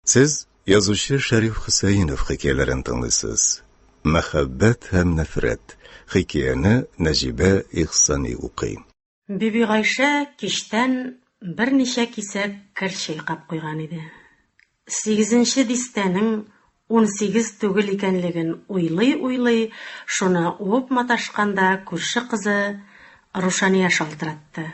Сез язучы Шәриф Хөсәенов хикәяләрен тыңлыйсыз. Мәхәббәт һәм нәфрәт хикәяне Нәҗибә Ихсани укый. Бибигайшә кичтән берничә кисәк кер чайкап куйган иде. Сигезенче дистәнең унсигез түгел икәнлеген уйлый-уйлый шуны уып маташканда күрше кызы Рушания шалтыратты.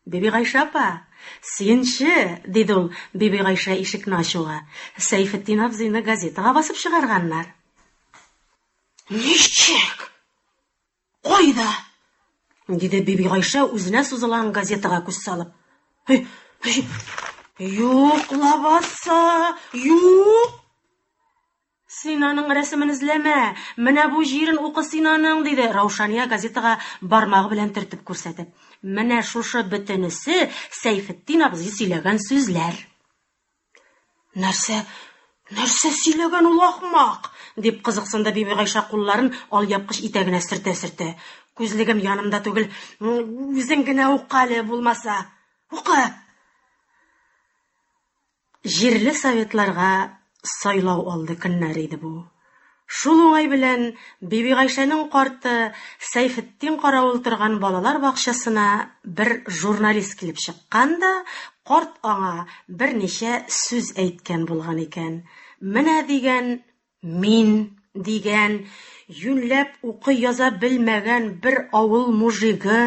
Бибигайшә апа! Синче! диде ул, Бибигайшә ишекне ачуга, Сәйфетдин абзыйны газетага басып чыгарганнар. Ничек? Кайда? диде Бибигайшә үзенә сузылган газетага күз салып. Юк лабаса, юк! Син аның рәсемен эзләмә! Менә бу җирен укы син аның! диде Раушания газетага бармагы белән төртеп күрсәтеп. Менә шушы бөтенесе Сәйфетдин абзый сөйләгән сүзләр. Нәрсә, нәрсә сөйләгән ул ахмак? дип кызыксынды Бибигайша кулларын алъяпкыч итәгенә сөртә-сөртә. Күзлегем янымда түгел, үзең генә укале, булмаса. Укы! Җирле советларга сайлау алды көннәре иде бу. Шул уңай белән Бибигайшәнең карты Сәйфетдин каравыл торган балалар бакчасына бер журналист килеп чыккан да, карт аңа берничә сүз әйткән булган икән. Менә дигән, Мин дигән, юньләп укый-яза белмәгән бер авыл мужигы,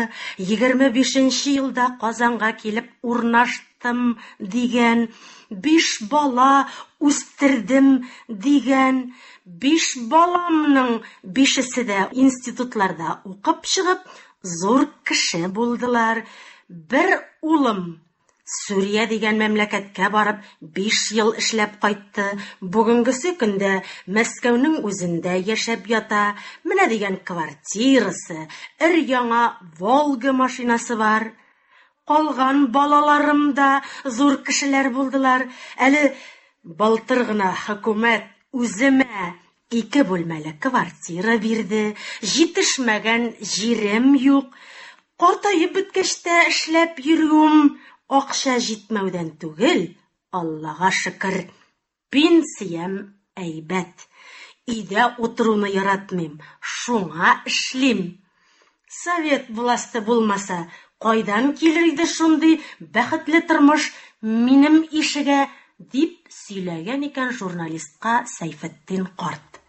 егерме бишенче елда Казанга килеп урнаштым дигән, биш бала үстердем дигән, биш баламның бишесе дә институтларда укып чыгып, зур кеше булдылар, бер улым Сүрия дигән мәмләкәткә барып, биш ел эшләп кайтты. Бүгенгесе көндә Мәскәүнең үзендә яшәп ята. Менә дигән квартирасы, өр-яңа Волга машинасы бар. Калган балаларым да зур кешеләр булдылар. Әле былтыр гына хөкүмәт үземә Ике бүлмәле квартира бирде, җитешмәгән җирем юк. Картаеп беткәч тә эшләп йөрүем акча җитмәүдән түгел, Аллага шөкер, пенсиям әйбәт. Өйдә утыруны яратмыйм, шуңа эшлим. Совет власты булмаса, кайдан килер иде шундый бәхетле тормыш минем ишегә, дип сөйләгән икән журналистка Сәйфетдин карт.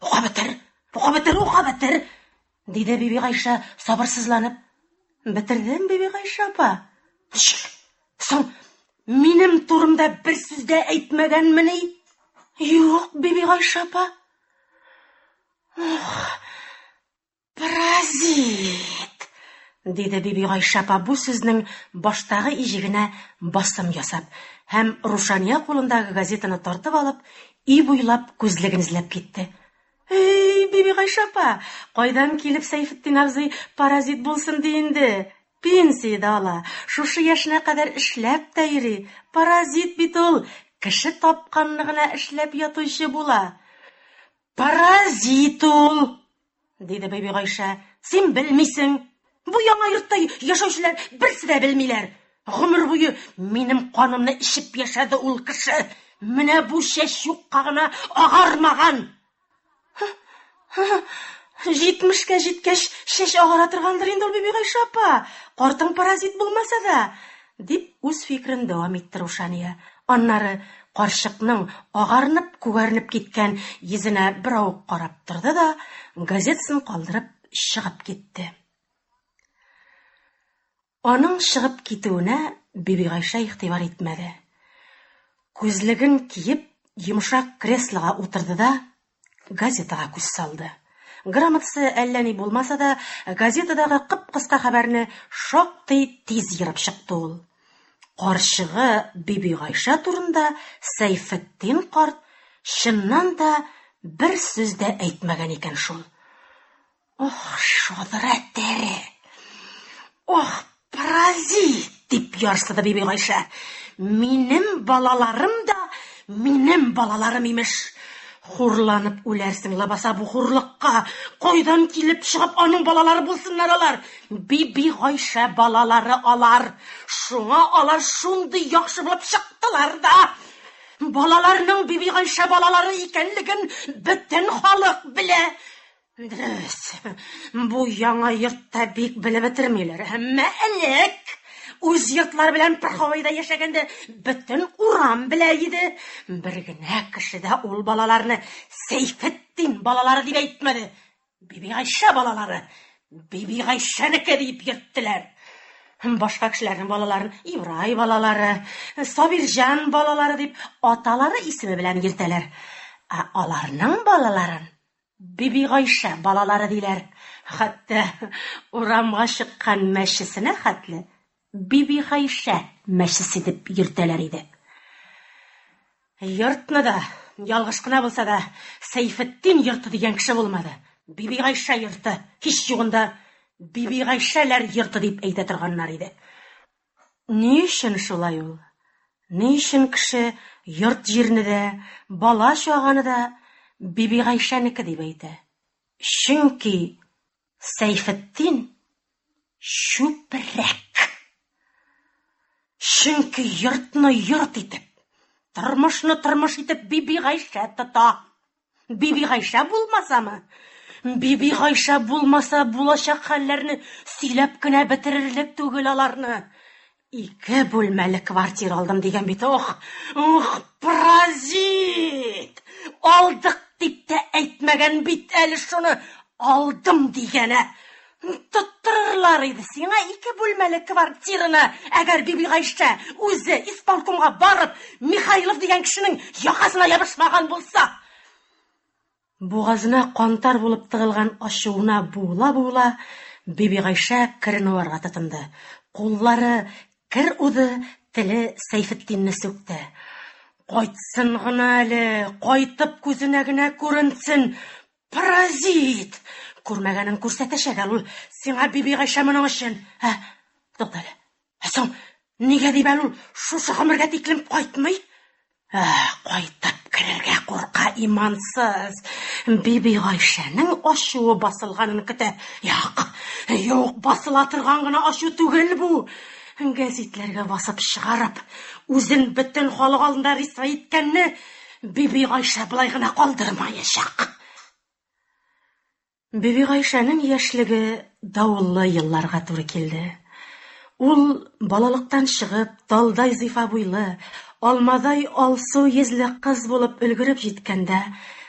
Ука бетер, ука бетер, ука бетер, диде Биби Гайша сабырсызланып. Бетердем, Биби Гайша апа. Ничек? Соң минем турымда бер сүз дә әйтмәгәнмени? Юк, Биби Гайша апа. Паразит! диде Биби Гайша апа бу сүзнең баштагы иҗегенә басым ясап һәм Рушания кулындагы газетаны тартып алып, өй буйлап күзлеген эзләп китте. Эй, Биби Гайша апа, кайдан килеп Сәйфетдин абзый паразит булсын ди инде? Пенсия дә ала, шушы яшенә кадәр эшләп тә йөри. Паразит бит ул, кеше тапканны гына эшләп ятучы була. Паразит ул! диде Бибигайшә. Син белмисең. Бу яңа йортта яшәүчеләр берсе дә белмиләр. Гомер буе минем канымны эчеп яшәде ул кеше. Менә бу чәч юкка гына агармаган. Җитмешкә җиткәч, чәч агара торгандыр инде ул, Бибигайшә апа. Картың паразит булмаса да, Дип үз фикерен дәвам итте Рушания. Аннары карчыкның агарынып-күгәренеп киткән йөзенә берау карап торды да, газетасын калдырып чыгып китте. Аның чыгып китүенә Бибигайшә игътибар итмәде. Күзлеген киеп, йомшак креслога утырды да, Газетага күз салды. Грамотасы әллә ни булмаса да, газетадагы кып-кыска хәбәрне шактый тиз ерып чыкты ул. Карчыгы Бибигайша турында Сәйфетдин карт чыннан да бер сүз дә әйтмәгән икән шул. Ох, шодра тәре! Ох, паразит! дип ярсыды Биби Гайшә. Минем балаларым да минем балаларым имеш. Хурланып үләрсең, лабаса бу хурлыкка. Кайдан килеп чыгып аның балалары булсыннар алар? Биби Гайшә балалары алар. Шуңа алар шундый яхшы булып чыктылар да. Балаларның Биби Гайшә балалары икәнлеген бөтен халык белә. Дөрес, бу яңа йортта бик белеп бетермиләр, әмма элек үз йортлары белән бер һавайда яшәгәндә бөтен урам белә иде. Бер генә кеше дә ул балаларны Сәйфетдин балалары дип әйтмәде. Бибигайшә балалары, Бибигайшәнеке дип йөрттеләр. Башка кешеләрнең балаларын Ибрай балалары, Сабирҗан балалары дип аталары исеме белән йөртәләр. Ә аларның балаларын Бибигайшә балалары диләр. Хәтта урамга чыккан мәчесенә хәтле Бибигайшә мәчесе дип йөртәләр иде. Йортны да, ялгыш кына булса да, Сәйфетдин йорты дигән кеше булмады. Бибигайшә йорты, һич югында, Бибигайшәләр йорты дип әйтә торганнар иде. Ни өчен шулай ул? Ни өчен кеше йорт-җирне дә, бала-чаганы да Бибигайшәнеке дип әйтә? Чөнки Сәйфетдин чүпрәк. Чөнки йортны йорт итеп, тормышны тормыш итеп Бибигайшә тота. Бибигайшә булмасамы? Бибигайшә булмаса булачак хәлләрне сөйләп кенә бетерерлек түгел аларны. Ике бүлмәле квартира алдым дигән бит, ох! Ух, паразит! Алдык дип тә әйтмәгән бит әле шуны, алдым дигәнә. Тоттырырлар иде сиңа ике бүлмәле квартираны, әгәр Бибигайшә үзе исполкомга барып, Михайлов дигән кешенең якасына ябышмаган булса! Бугазына кантар булып тыгылган ачуына буыла-буыла, Бибигайшә керен уарга тотынды. Куллары кер уды, теле Сәйфетдинне сүкте. Кайтсын гына әле, кайтып күзенә генә күренсен, Паразит! Күрмәгәнен күрсәтәчәк әле ул сиңа, Бибигайшә, моның өчен. Ә, тукта әле. Ә соң нигә дип әле ул шушы гомергә тиклем кайтмый? Ә, кайтып керергә курка имансыз. Бибигайшәнең ачуы басылганын көтә. Юк, юк, басыла торган гына ачу түгел бу. Гәзитләргә басып чыгарып, үзен бөтен халык алдында рисвай иткәнне Биби Гайшә болай гына калдырмаячак. Биби Гайшәнең яшьлеге давыллы елларга туры килде. Ул балалыктан чыгып, талдай зифа буйлы, алмадай алсу йөзле кыз булып өлгереп җиткәндә,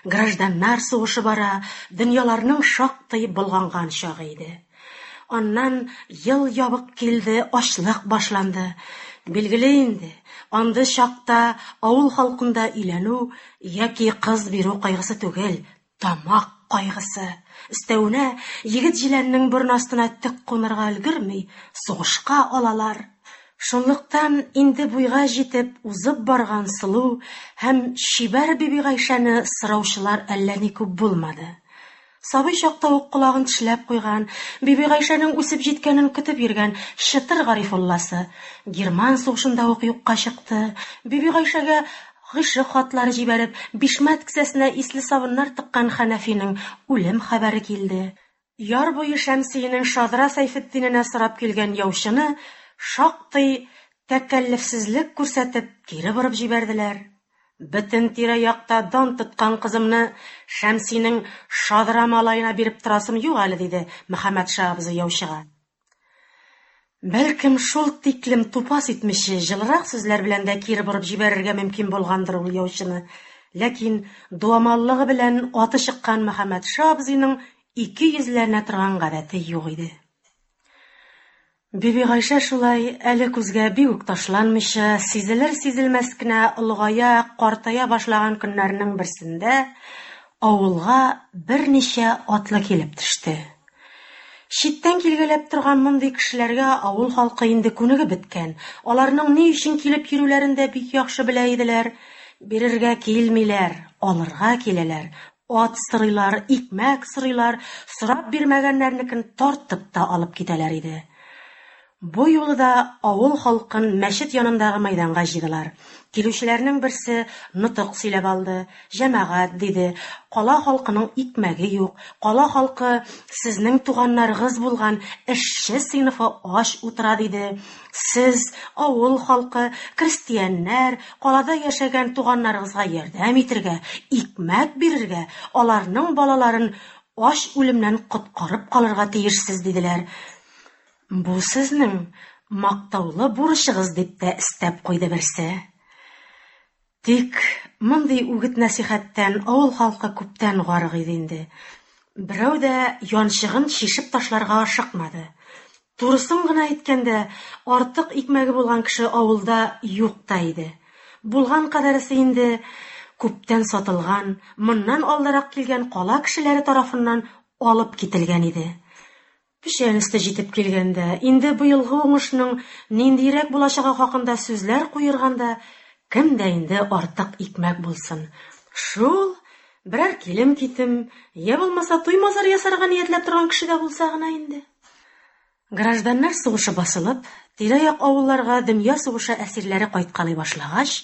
гражданнар сугышы бара, дөньяларның шактый болганган чагы иде. Аннан ел ябык килде, ачлык башланды. Билгеле инде, андый чакта авыл халкында өйләнү яки кыз бирү кайгысы түгел, тамак кайгысы. Өстәвенә, егет җиләннең борын астына төк кунырга өлгерми, сугышка алалар. Шунлыктан инде буйга җитеп узып барган сылу һәм чибәр Бибигайшәне сораучылар әллә ни күп булмады. Сабый чакта ук колагын тешләп куйган, Бибигайшәнең үсеп җиткәнен көтеп йөргән Чытыр Гарифулласы герман сугышында ук юкка чыкты. Бибигайшәгә гыйшык хатлары җибәреп, бишмәт кесәсенә исле сабыннар тыккан Хәнәфинең үлем хәбәре килде. Яр буе Шәмсиенең шадра Сәйфетдиненә сорап килгән яучыны шактый тәкәллефсезлек күрсәтеп кире борып җибәрделәр. Бөтен тирә-якта дан тоткан кызымны Шәмсинең шадра малаена биреп торасым юк әле, диде Мөхәммәтша абзый яучыга. Бәлкем, шул тиклем тупас итмичә, җылырак сүзләр белән дә кире борып җибәрергә мөмкин булгандыр ул яучыны. Ләкин дуамаллыгы белән аты чыккан Мөхәммәтша абзыйның ике йөзләнә торган гадәте юк иде. Бибигайшә шулай, әле күзгә бик үк ташланмыйча, сизелер-сизелмәс кенә олыгая, картая башлаган көннәрнең берсендә авылга берничә атлы килеп төште. Читтән килгәләп торган мондый кешеләргә авыл халкы инде күнегеп беткән, аларның ни өчен килеп йөрүләрен дә бик яхшы белә иделәр, бирергә килмиләр, алырга киләләр, Ат сорыйлар, икмәк сорыйлар, сорап бирмәгәннәрнекен тартып та алып китәләр иде. Бу юлы да авыл халкын мәчет янындагы мәйданга җыйдылар. Килүчеләрнең берсе нотык сөйләп алды. Җәмәгать, диде, кала халкының икмәге юк, кала халкы сезнең туганнарыгыз булган эшче сыйныфы ач утыра, диде. Сез авыл халкы, крестьяннәр, калада яшәгән туганнарыгызга ярдәм итергә, икмәк бирергә, аларның балаларын ач үлемнән коткарып калырга тиешсез, диделәр. Бу сезнең мактаулы бурычыгыз, дип тә өстәп куйды берсе. Тик мондый үгет-нәсыйхәттән авыл халкы күптән гарык иде инде. Берәү дә янчыгын чишеп ташларга ашыкмады. Турысын гына әйткәндә, артык икмәге булган кеше авылда юк та иде. Булган кадәресе инде күптән сатылган, моннан алдарак килгән кала кешеләре тарафыннан алып кителгән иде. Печән өсте җитеп килгәндә, инде быелгы уңышның ниндиерәк булачагы хакында сүзләр куерганда, кем дә инде артык икмәк булсын. Шул, берәр килем-китем, йә булмаса туймазар ясарга ниятләп торган кеше дә булса гына инде. Гражданнар сугышы басылып, тирә-як авылларга дөнья сугышы әсирләре кайткалый башлагач,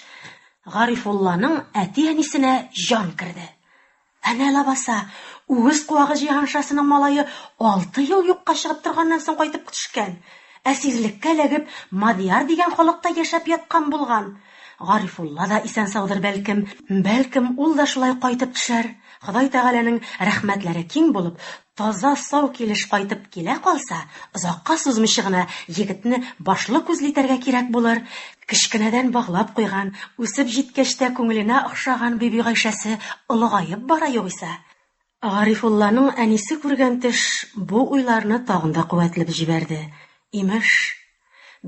Гарифулланың әти-әнисенә җан керде. Әнә лабаса, үгез куагы җиһаншасының малае алты ел юкка чыгып торганнан соң кайтып төшкән. Әсирлеккә эләгеп, Мадьяр дигән халыкта яшәп яткан булган. Гарифулла да исән-саудыр, бәлкем. Бәлкем, ул да шулай кайтып төшәр. Ходай Тәгаләнең рәхмәтләре киң булып, Таза-сау килеш кайтып килә калса, озакка сузмыйча гына егетне башлы-күзле итәргә кирәк булыр, кечкенәдән баглап куйган, үсеп җиткәч тә күңеленә охшаган Бибигайшәсе олыгаеп бара югыйсә. Гарифулланың әнисе күргән төш бу уйларны тагын да куәтләп җибәрде. Имеш.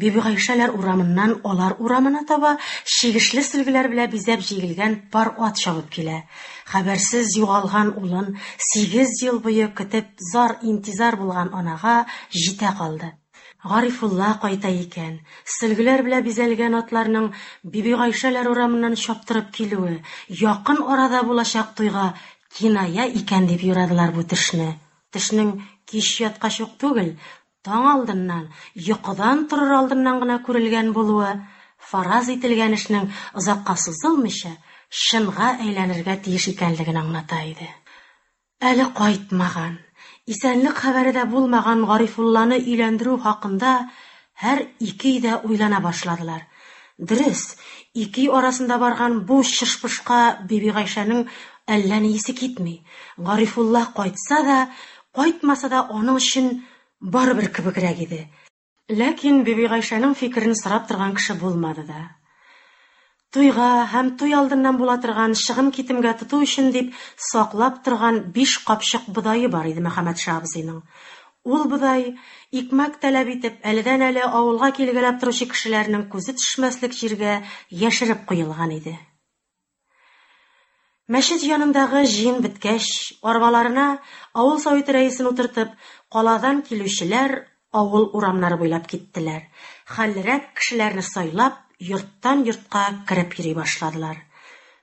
Бибигайшәләр урамыннан алар урамына таба чигешле сөлгеләр белә бизәп җигелгән пар ат чабып килә. Хәбәрсез югалган улын сигез ел буе көтеп зар-интизар булган анага җитә калды. Гарифулла кайта икән. Сөлгеләр белә бизәлгән атларның Бибигайшәләр урамыннан чаптырып килүе якын арада булачак туйга киная икән дип юрадылар бу төшне. Төшнең кич яткач ук түгел, Таң алдыннан, йокыдан торыр алдыннан гына күрелгән булуы, фараз ителгән эшнең озакка сузылмыйча, чынга әйләнергә тиеш икәнлеген аңлата иде. Әле кайтмаган, исәнлек хәбәре дә булмаган Гарифулланы өйләндерү хакында һәр икеи дә уйлана башладылар. Дөрес, икеи арасында барган бу чыш-пышка Бибигайшәнең әллә ни исе китми. Гарифулла кайтса да, Кайтмаса да, аның өчен барыбер кебегрәк иде. Ләкин Бибигайшәнең фикерен сорап торган кеше булмады да. Туйга һәм туй алдыннан була торган чыгым-китемгә тоту өчен дип саклап торган биш капчык бодае бар иде Мөхәммәтша абзыйның. Ул бодай, икмәк таләп итеп, әледән-әле авылга килгәләп торучы кешеләрнең күзе төшмәслек җиргә яшереп куелган иде. Мәчет янындагы җыен беткәч, арбаларына авыл Советы рәисен утыртып, каладан килүчеләр авыл урамнары буйлап киттеләр, хәллерәк кешеләрне сайлап, йорттан-йортка кереп йөри башладылар.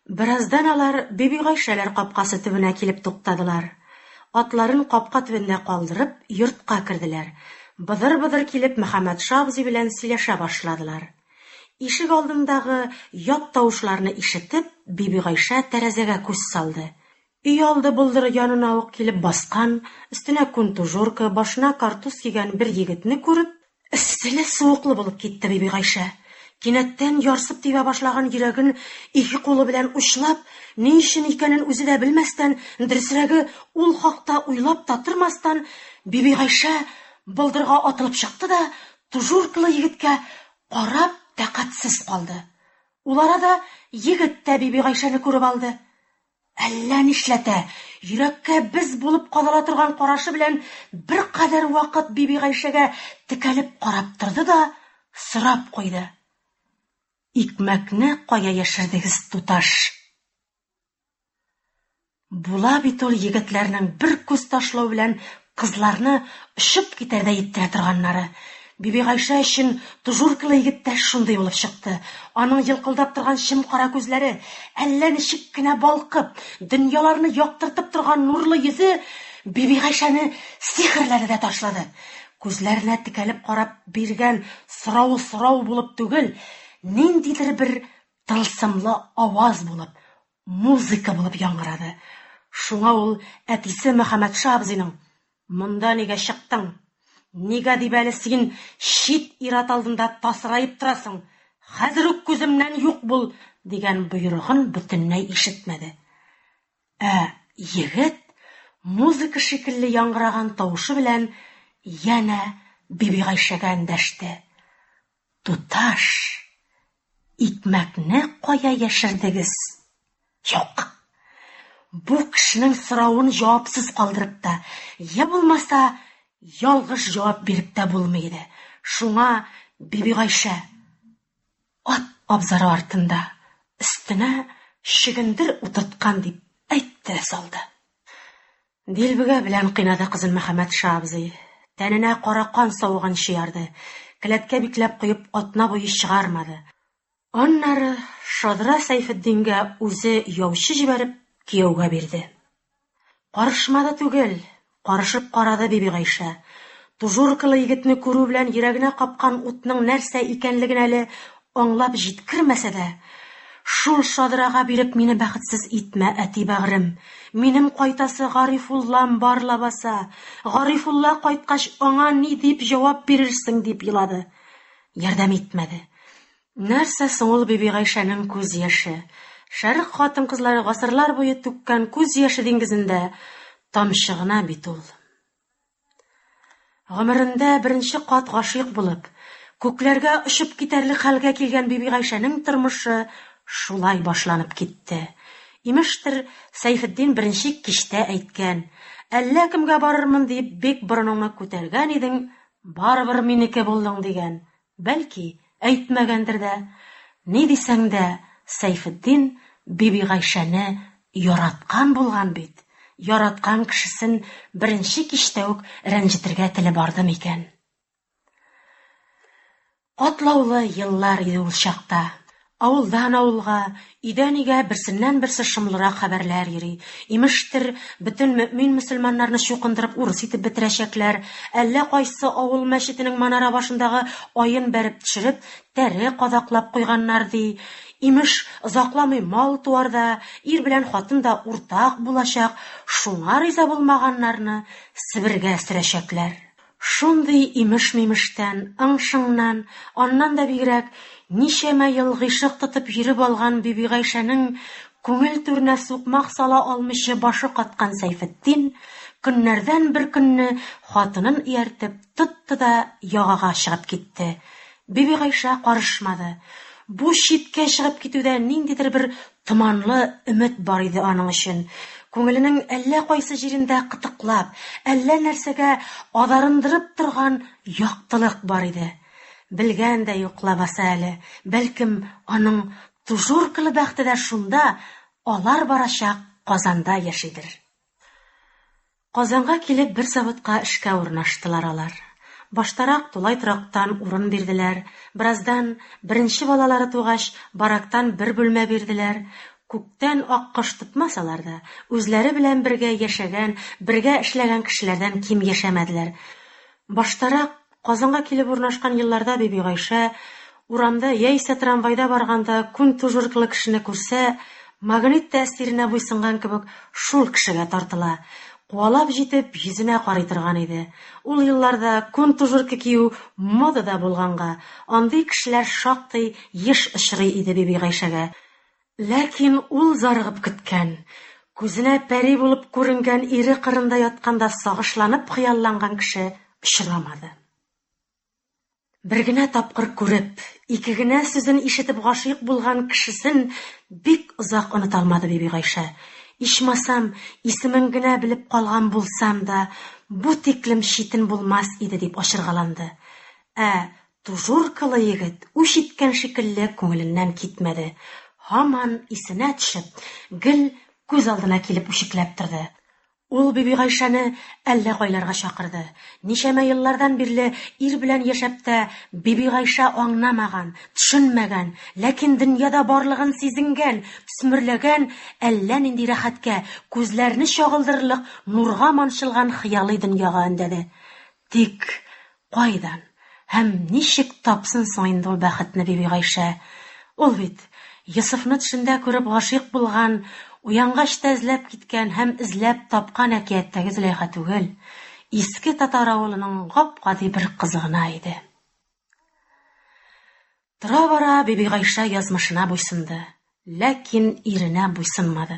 Бераздан алар Бибигайшәләр капкасы төбенә килеп туктадылар. Атларын капка төбендә калдырып, йортка керделәр. Быдыр-быдыр килеп Мөхәммәтша абзый белән сөйләшә башладылар. Ишек алдындагы ят тавышларны ишетеп, Бибигайшә тәрәзәгә күз салды. Өйалды болдыры янына ук килеп баскан, өстенә күн тужурка, башына картуз кигән бер егетне күреп, эсселе-суыклы булып китте Бибигайшә. Кинәттән ярсып тибә башлаган йөрәген ике кулы белән учлап, ни өчен икәнен үзе дә белмәстән, дөресрәге, ул хакта уйлап та тормастан, Бибигайшә болдырга атылып чыкты да, Тужуркалы егеткә карап тәкатьсез калды. Ул арада егет тә Бибигайшәне күреп алды. Әллә нишләтә, йөрәккә без булып кадала торган карашы белән беркадәр вакыт Бибигайшәгә текәлеп карап торды да, сорап куйды. Икмәкне кая яшердегез, туташ? Була бит ул егетләрнең бер күз ташлау белән кызларны очып китәрдәй иттерә торганнары. Бибигайшә өчен тужуркалы егет тә шундый булып чыкты. Аның елкылдап торган чем-кара күзләре, әллә ничек кенә балкып, дөньяларны яктыртып торган нурлы йөзе Бибигайшәне сихерләде дә ташлады. Күзләренә текәлеп карап биргән сорау сорау булып түгел, ниндидер бер тылсымлы аваз булып, музыка булып яңгырады. Шуңа ул әтисе Мөхәммәтша абзыйның, Монда нигә чыктың? Нигә дип әле син чит ир-ат алдында тасыраеп торасың? Хәзер үк күземнән юк бул! дигән боерыгын бөтенләй ишетмәде. Ә егет музыка шикелле яңгыраган тавышы белән янә Бибигайшәгә эндәште. Туташ, икмәкне кая яшердегез? Юк. Бу кешенең соравын җавапсыз калдырып та, я булмаса, ялгыш җавап биреп тә булмый иде. Шуңа Бибигайшә ат абзары артында өстенә чөгендер утырткан дип әйтте салды. Дилбегә белән кыйнады кызын Мөхәммәт ша абзый. Тәненә кара кан савыганчы ярды. Келәткә бикләп куеп, атна буе чыгармады. Аннары шадра Сәйфетдингә үзе яучы җибәреп, кияүгә бирде. Карышмады түгел, карышып карады Бибигайшә. Тужуркалы егетне күрү белән йөрәгенә капкан утның нәрсә икәнлеген әле Аңлап җиткермәсә дә, Шул шадрага биреп мине бәхетсез итмә, әти бәгърем. Минем кайтасы Гарифуллам бар лабаса. Гарифулла кайткач, аңа ни дип җавап бирерсең, дип елады. Ярдәм итмәде. Нәрсә соң ул Бибигайшәнең күз яше? Шәрык хатын-кызлары гасырлар буе түккән күз яше диңгезендә тамчы гына бит ул. Гомерендә беренче кат гашыйк булып, күкләргә очып китәрлек хәлгә килгән Бибигайшәнең тормышы шулай башланып китте. Имештер, Сәйфетдин беренче кичтә әйткән, Әллә кемгә барырмын диеп бик борыныңны күтәргән идең, барыбер минеке булдың, дигән. Бәлки, әйтмәгәндер дә. Ни дисәң дә, Сәйфетдин Бибигайшәне яраткан булган бит. Яраткан кешесен беренче кичтә үк рәнҗетергә теле барды микән? Катлаулы еллар иде ул чакта. Авылдан авылга, өйдән өйгә берсеннән-берсе шомлырак хәбәрләр йөри. Имештер, бөтен мөэмин-мөселманнарны чукындырып урыс итеп бетерәчәкләр, әллә кайсы авыл мәчетенең манара башындагы аен бәреп төшереп, тәре кадаклап куйганнар, ди. Имеш, озакламый мал-туар да, ир белән хатын да уртак булачак, шуңа риза булмаганнарны Себергә сөрәчәкләр. Шундый имеш-мимештән, ың-шыңнан, аннан да бигрәк, ничәмә ел гыйшык тотып йөреп алган Бибигайшәнең күңел түренә сукмак сала алмыйча башы каткан Сәйфетдин көннәрдән бер көнне хатынын ияртеп тотты да ягага чыгып китте. Бибигайшә карышмады. Бу читкә чыгып китүдә ниндидер бер Томанлы өмет бар иде аның өчен. Күңеленең әллә кайсы җирендә кытыклап, әллә нәрсәгә адарындырып торган яктылык бар иде. Белгән дә юк лабаса әле, бәлкем, аның тужуркалы бәхте дә шунда, алар барачак Казанда яшидер. Казанга килеп бер заводка эшкә урнаштылар алар. Баштарак тулай торактан урын бирделәр, бераздан, беренче балалары тугач, барактан бер бүлмә бирделәр. Күктән ак кош тотмас алар да, үзләре белән бергә яшәгән, бергә эшләгән кешеләрдән ким яшәмәделәр. Баштарак Казанга килеп урнашкан елларда Бибигайшә урамда яисә трамвайда барганда күнтужырклы кешене күрсә, магнит тәэсиренә буйсынган кебек шул кешегә тартыла, куалап җитеп йөзенә карый торган иде. Ул елларда күнтужырка кию модада булганга, андый кешеләр шактый еш очрый иде Бибигайшәгә. Ләкин ул зарыгып көткән, күзенә пәри булып күренгән ире кырында ятканда сагышланып хыялланган кеше очрамады. Бер генә тапкыр күреп, ике генә сүзен ишетеп гашыйк булган кешесен бик озак оныта алмады Бибигайшә. Ичмасам, исемен генә белеп калган булсам да, бу тиклем читен булмас иде, дип ачыргаланды. Ә Тужуркалы егет үч иткән шикелле күңеленнән китмәде, һаман исенә төшеп, гел күз алдына килеп үчекләп торды. Ул Бибигайшәне әллә кайларга чакырды. Ничәмә еллардан бирле ир белән яшәп тә, Бибигайшә аңнамаган, төшенмәгән, ләкин дөньяда барлыгын сизенгән, төсмерләгән әллә нинди рәхәткә, күзләрне чагылдырырлык нурга манчылган хыялый дөньяга өндәде. Тик кайдан һәм ничек тапсын соң инде ул бәхетне Бибигайшә? Ул бит Йосыфны төшендә күреп гашыйк булган, уянгач та эзләп киткән һәм эзләп тапкан әкияттәге Зөләйха түгел, иске татар авылының гап-гади бер кызы гына иде. Тора-бара Бибигайша язмышына буйсынды, ләкин иренә буйсынмады.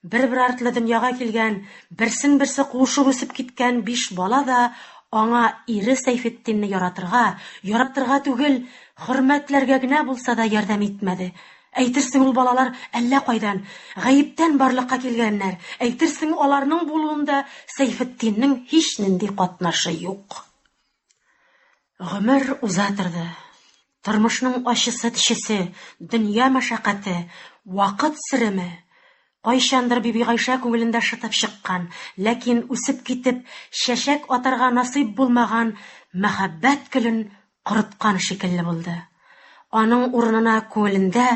Бер-бер артлы дөньяга килгән, берсен-берсе куышып үсеп киткән биш бала да аңа ире Сәйфетдинне яратырга, яратырга түгел, хөрмәтләргә генә булса да ярдәм итмәде. Әйтерсең, ул балалар әллә кайдан, гаептән барлыкка килгәннәр, әйтерсең, аларның булуында Сәйфетдиннең һичнинди катнашы юк. Гомер уза торды. Тормышның ачысы тишесе, дөнья мәшәкате, вакыт сиреме, кайчандыр Биби Гайшә күңелендә шытып чыккан, ләкин үсеп китеп, чәчәк атарга насыйп булмаган мәхәббәт гөлен корыткан шикелле булды. Аның урынына күңелендә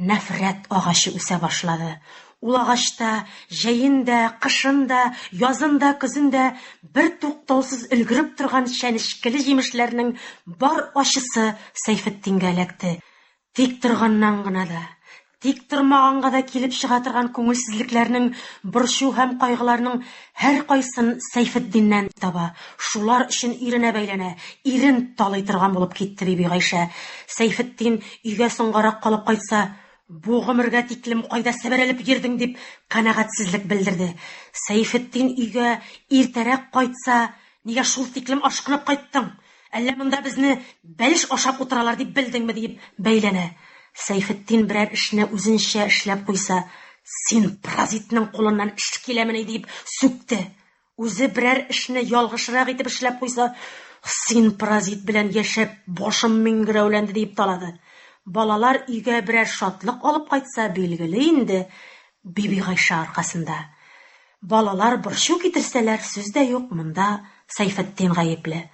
Нәфрәт агачы үсә башлады. Ул агачта җәен дә, кышын да, язын да, көзен дә бертуктаусыз өлгереп торган чәнечкеле җимешләрнең бар ачысы Сәйфетдингә эләкте. Тик торганнан гына да, тик тормаганга да килеп чыга торган күңелсезлекләрнең, борчу һәм кайгыларның Һәркайсын Сәйфетдиннән таба, шулар өчен иренә бәйләнә, ирен талый торган булып китте Бибигайшә. Сәйфетдин өйгә соңгарак калып кайтса, Бу гомергә тиклем кайда себерелеп йөрдең, дип канәгатьсезлек белдерде. Сәйфетдин өйгә иртәрәк кайтса, Нигә шул тиклем ашкынып кайттың? Әллә монда безне бәлеш ашап утыралар дип белдеңме? диеп бәйләнә. Сәйфетдин берәр эшне үзенчә эшләп куйса, Син паразитның кулыннан эш киләмени? диеп сүкте. Үзе берәр эшне ялгышрак итеп эшләп куйса, Син паразит белән яшәп, башым миңгерәүләнде, диеп талады. Балалар өйгә берәр шатлык алып кайтса, билгеле инде, Бибигайшә аркасында. Балалар борчу китерсәләр, сүз дә юк, монда Сәйфетдин гаепле.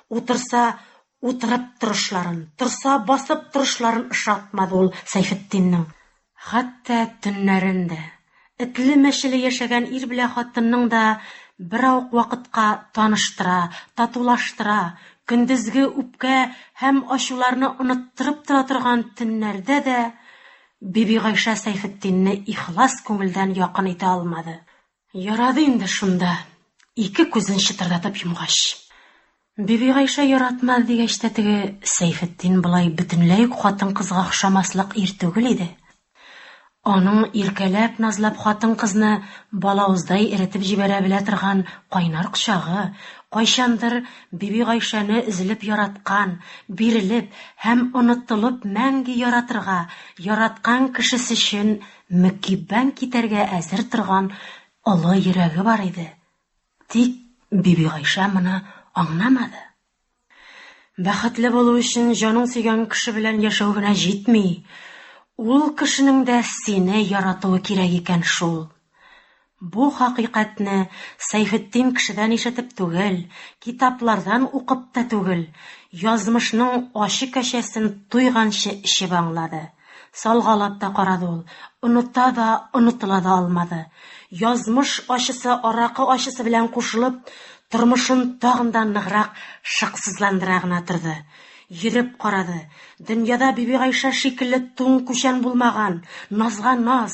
Утырса, утырып торышларын, торса, басып торышларын ошатмады ул Сәйфетдиннең. Хәтта төннәрен дә. Этле-мәчеле яшәгән ир белә хатынның да бераук вакытка таныштыра, татулаштыра, көндезге үпкә һәм ачуларны оныттырып тора торган төннәрдә дә Бибигайшә Сәйфетдинне ихлас күңелдән якын итә алмады. Ярады инде шунда, ике күзен чытырдатып йомгач. Бибигайшә яратмады дигәч тә теге Сәйфетдин болай бөтенләй үк хатын-кызга охшамаслык ир түгел иде. Аның иркәләп-назлап хатын-кызны балавыздай эретеп җибәрә белә торган кайнар кочагы, кайчандыр Биби Гайшәне эзелеп яраткан, бирелеп һәм онытылып мәңге яратырга, яраткан кешесе өчен мөкиббән китәргә әзер торган олы йөрәге бар иде. Тик Биби Гайшә моны аңламады. Бәхетле булу өчен җаның сөйгән кеше белән яшәү генә җитми. Ул кешенең дә сине яратуы кирәк икән шул. Бу хакыйкатьне Сәйфетдин кешедән ишетеп түгел, китаплардан укып та түгел, язмышның ачы кәчәсен туйганчы эчеп аңлады. Салгалап та карады ул, оныта да, онытыла да алмады. Язмыш ачысы аракы ачысы белән кушылып, тормышын тагын да ныграк шыксызландыра гына торды. Йөреп карады. Дөньяда Бибигайшә шикелле туң-күчән булмаган, назга-наз,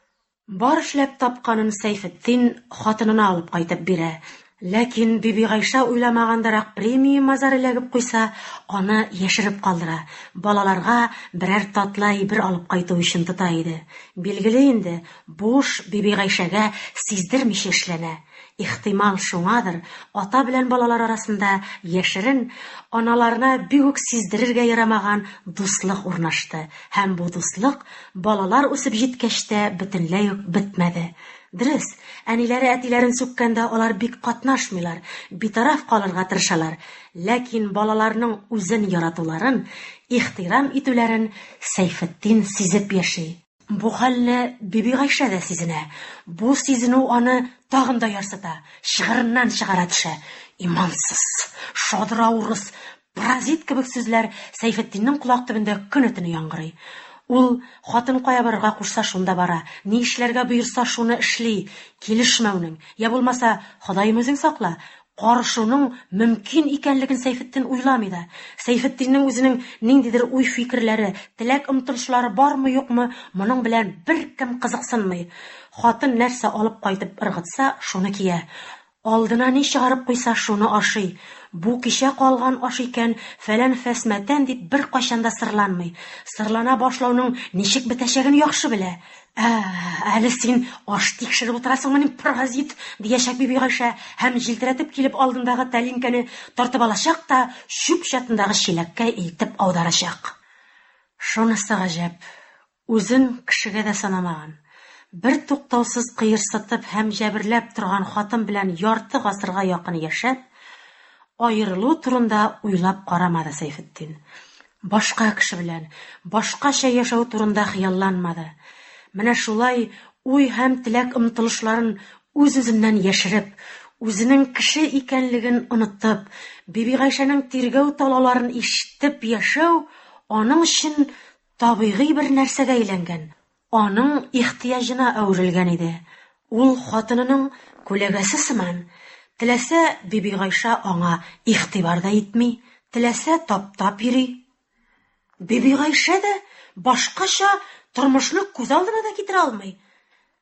Бар эшләп тапканын Сәйфетдин хатынына алып кайтып бирә. Ләкин Бибигайшә уйламагандырак премия мазар эләгеп куйса, аны яшереп калдыра, балаларга берәр татлы әйбер алып кайту өчен тота иде. Билгеле инде, бу эш Бибигайшәгә сиздермичә эшләнә. Ихтимал шуңадыр, ата белән балалар арасында яшерен, аналарына бик үк сиздерергә ярамаган дуслык урнашты һәм бу дуслык балалар үсеп җиткәч тә бөтенләй үк бетмәде. Дөрес, әниләре әтиләрен сүккәндә алар бик катнашмыйлар, битараф калырга тырышалар, ләкин балаларның үзен яратуларын, ихтирам итүләрен Сәйфетдин сизеп яши. Бу хәлне Бибигайшә дә сизенә. Бу сизенү аны тагын да ярсыта, чыгырыннан чыгара төшә. Имансыз! Шадра урыс! Паразит! кебек сүзләр Сәйфетдиннең колак төбендә көне-төне яңгырый. Ул, хатын кая барырга кушса, шунда бара, ни эшләргә боерса, шуны эшли. Килешмәүнең, йә булмаса, Ходаем үзең сакла, Карышуның мөмкин икәнлеген Сәйфетдин уйламый да. Сәйфетдиннең үзенең ниндидер уй-фикерләре, теләк-омтылышлары бармы-юкмы, моның белән беркем кызыксынмый. Хатын нәрсә алып кайтып ыргытса, шуны кия. Алдына ни чыгарып куйса, шуны ашый. Бу кичә калган аш икән, фәлән-фәс мәтән дип беркайчан да сырланмый. Сырлана башлауның ничек бетәчәген яхшы белә. Ә, әле син аш тикшереп утырасыңмы, мин паразит, диячәк биби Гайшә һәм җилтерәтеп килеп алдындагы тәлинкәне тартып алачак та чүп чатындагы чиләккә илтеп аударачак. Шунысы гаҗәп, үзен кешегә дә санамаган, бертуктаусыз кыерсытып һәм җәберләп торган хатын белән ярты гасырга якын яшәп, аерылу турында уйлап карамады Сәйфетдин. Башка кеше белән, башкача яшәү турында хыялланмады. Менә шулай уй һәм теләк-омтылышларын үз-үзеннән яшереп, үзенең кеше икәнлеген онытып, Бибигайшәнең тиргәү-талауларын ишетеп яшәү аның өчен табигый бер нәрсәгә әйләнгән, Аның ихтыяҗына әверелгән иде. Ул хатынының күләгәсе сыман, теләсә Бибигайша аңа игътибар да итми, теләсә таптап йөри. Бибигайшә дә башкача тормышны күз алдына да китерә алмый.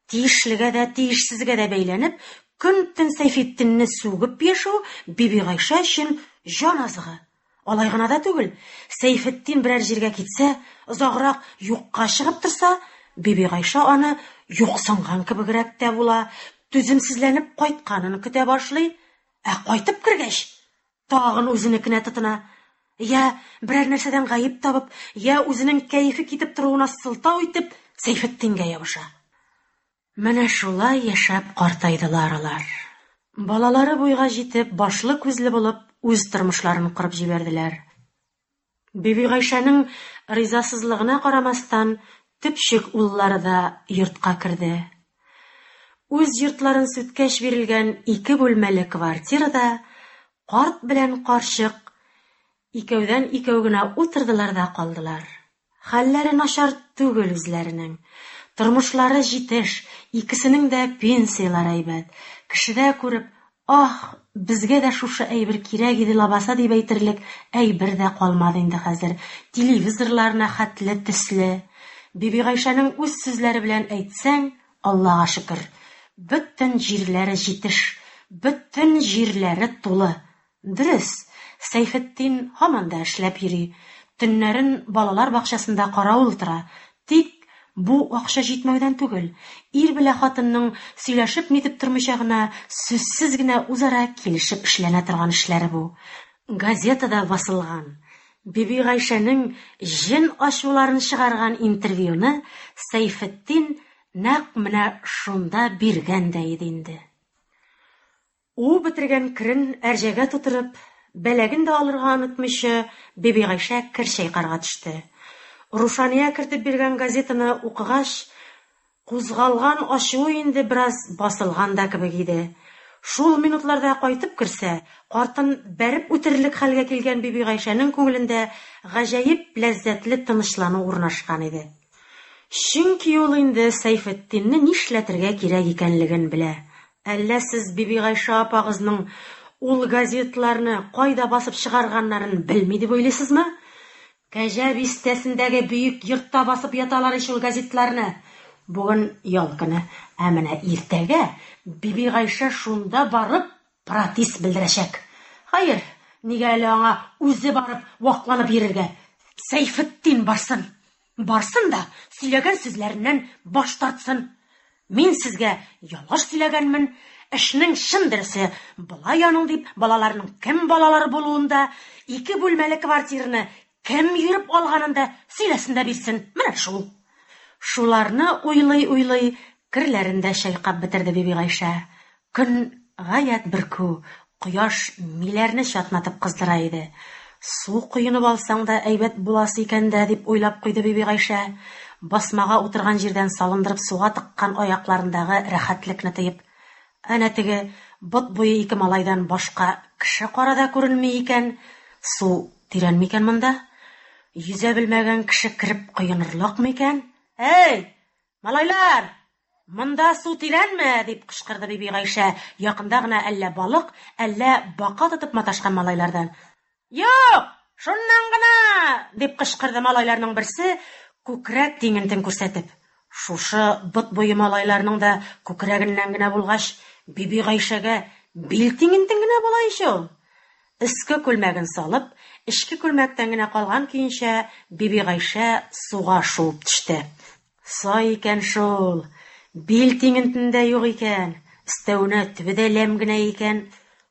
Тиешлегә дә, тиешсезгә дә бәйләнеп, көн-төн Сәйфетдинне сүгеп яшәү Бибигайшә өчен җан азыгы. Алай гына да түгел, Сәйфетдин берәр җиргә китсә, озаграк юкка чыгып торса, Бибигайша аны юксынган кебегрәк тә була, түземсезләнеп кайтканын көтә башлый, ә кайтып кергәч, тагын үзенекенә тотына. Йә берәр нәрсәдән гаеп табып, йә үзенең кәефе китеп торуына сылтау итеп, Сәйфетдингә ябыша. Менә шулай яшәп картайдылар алар. Балалары буйга җитеп, башлы-күзле булып, үз тормышларын корып җибәрделәр. Бибигайшәнең ризасызлыгына карамастан, төпчек уллары да йортка керде. Үз йортларын сүткәч бирелгән ике бүлмәле квартирада карт белән карчык икәүдән-икәү генә утырдылар да калдылар. Хәлләре начар түгел үзләренең. Тормышлары җитеш, икесенең дә пенсияләре әйбәт. Кешедә күреп, Аһ, безгә дә шушы әйбер кирәк иде лабаса дип әйтерлек әйбер дә калмады инде хәзер, телевизорларына хәтле төсле. Бибигайшәнең үз сүзләре белән әйтсәң, Аллага шөкер. Бөтен җирләре җитеш, бөтен җирләре тулы. Дөрес, Сәйфетдин һаман да эшләп йөри, төннәрен балалар бакчасында каравыл тора, тик бу акча җитмәүдән түгел, ир белә хатынның сөйләшеп-нитеп тормыйча гына, сүзсез генә үзара килешеп эшләнә торган эшләре бу. Газетада басылган, Бибигайшәнең җен ачуларын чыгарган интервьюны Сәйфетдин нәкъ менә шунда биргән дә иде инде. Уып бетергән керен әрҗәгә тутырып, бәләген дә алырга онытмыйча, Бибигайшә кер чайкарга төште. Рушания кертеп биргән газетаны укыгач, кузгалган ачуы инде бераз басылган да кебек иде. Шул минутларда кайтып керсә, картын бәреп үтерерлек хәлгә килгән Бибигайшәнең күңелендә гаҗәеп ләззәтле тынычлану урнашкан иде. Чөнки ул инде Сәйфетдинне нишләтергә кирәк икәнлеген белә. Әллә сез Бибигайшә апагызның ул газетларны кайда басып чыгарганнарын белми дип уйлыйсызмы? Кәҗә Бистәсендәге бөек йортта басып яталар ич ул газетларны. Бүген ял көне, ә менә иртәгә Бибигайшә шунда барып Протест белдерәчәк. Хәер, нигә әле аңа үзе барып вакланып йөрергә? Сәйфетдин барсын. Барсын да сөйләгән сүзләреннән баш тартсын. Мин сезгә ялгыш сөйләгәнмен, эшнең чын дөресе болай аның дип балаларның кем балалары булуын да, ике бүлмәле квартираны Кем йөреп алганын да сөйләсен дә бирсен, менә шул. Шуларны уйлый-уйлый, керләрен дә чайкап бетерде Бибигайшә. Көн гаять бөркү, кояш миләрне чатнатып кыздыра иде. Су коенып алсаң да әйбәт буласы икән дә, дип уйлап куйды Бибигайшә, басмага утырган җирдән салындырып суга тыккан аякларындагы рәхәтлекне тоеп. Әнә теге бот буе ике малайдан башка кеше кара да күренми икән, су тирән микән монда? Йөзә белмәгән кеше кереп коенырлык микән? Әй! Малайлар! Монда су тирәнме? дип кычкырды Бибигайшә якында гына әллә балык, әллә бака тотып маташкан малайлардан. Юк! Шуннан гына! дип кычкырды малайларның берсе, күкрәк тиңентен күрсәтеп. Шушы бот буе малайларның да күкрәгеннән генә булгач, Бибигайшәгә бил тиңентен генә була ич ул! Өске күлмәген салып, эчке күлмәктән генә калган көенчә, Бибигайшә суга шуып төште. Сай икән шул! Бил тиңентен дә юк икән, өстәвенә төбе дә ләм генә икән.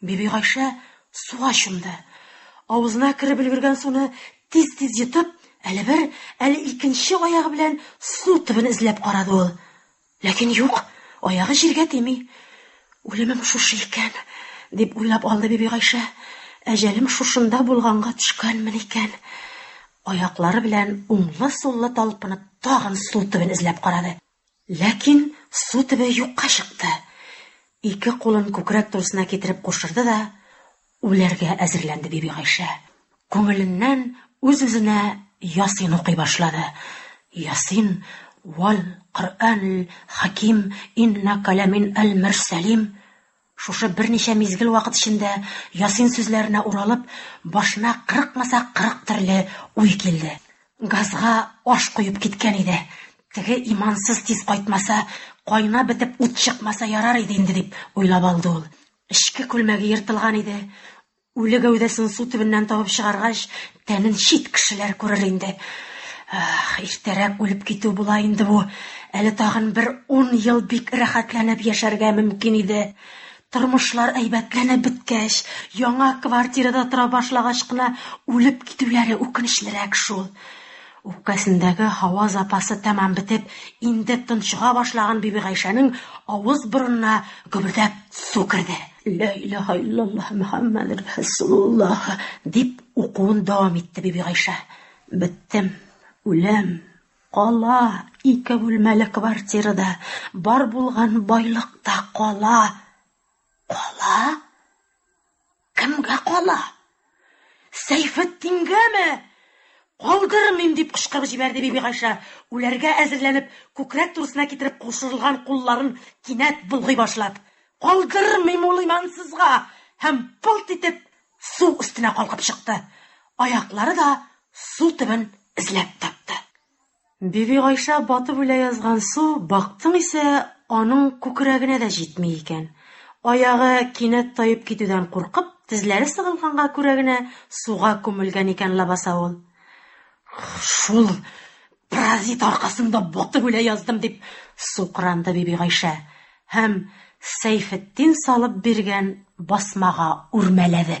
Бибигайшә суга чумды. Авызына кереп өлгергән суны тиз-тиз йотып, әле бер, әле икенче аягы белән су төбен эзләп карады ул. Ләкин юк, аягы җиргә тими. Үлемем шушы икән, дип уйлап алды Бибигайшә. Әҗәлем шушында булганга төшкәнмен икән. Аяклары белән уңлы-суллы талпынып, тагын су төбен эзләп карады. Ләкин су төбе юкка чыкты. Ике кулын күкрәк турысына китереп кушырды да, үләргә әзерләнде Бибигайшә. Күңеленнән үз-үзенә Ясин укый башлады. Ясин, Вал Коръәнил хаким, иннәкә ләмин әл-мөрсәлим. Шушы берничә мизгел вакыт эчендә Ясин сүзләренә уралып, башына кырыкмаса кырык төрле уй килде. Газга аш коеп киткән иде. Теге имансыз тиз кайтмаса, кайнап бетеп ут чыкмаса ярар иде инде, дип уйлап алды ул. Эчке күлмәге ертылган иде. Үле гәүдәсен су төбеннән табып чыгаргач, тәмен чит кешеләр күрер инде. Ах, иртәрәк үлеп китү була инде бу. Әле тагын бер ун ел бик рәхәтләнеп яшәргә мөмкин иде. Тормышлар әйбәтләнеп беткәч, яңа квартирада тора башлагач кына үлеп китүләре үкенечлерәк шул. Үпкәсендәге һава запасы тәмам бетеп, инде тончыга башлаган Бибигайшәнең авыз-борынына гөбердәп су керде. Лә илаһә иллаллаһ Мөхәммәдүр рәсулуллаһ, дип укуын дәвам итте Бибигайшә. Беттем. Үләм. Кала ике бүлмәле квартира да, бар булган байлык та кала. Кала? Кемгә кала? Сәйфетдингәме? Калдырмыйм! дип кычкырып җибәрде Бибигайшә, үләргә әзерләнеп, күкрәк турысына китереп кушырылган кулларын кинәт болгый башлап. Калдырмыйм ул имансызга! һәм пылт итеп су өстенә калкып чыкты. Аяклары да су төбен эзләп тапты. Бибигайшә батып үлә язган су, бактың исә, аның күкрәгенә дә җитми икән. Аягы кинәт таеп китүдән куркып, тезләре сыгылганга күрә генә суга күмелгән икән лабаса ул. Шул паразит аркасында батып үлә яздым, дип сукранды Бибигайшә һәм Сәйфетдин салып биргән басмага үрмәләде.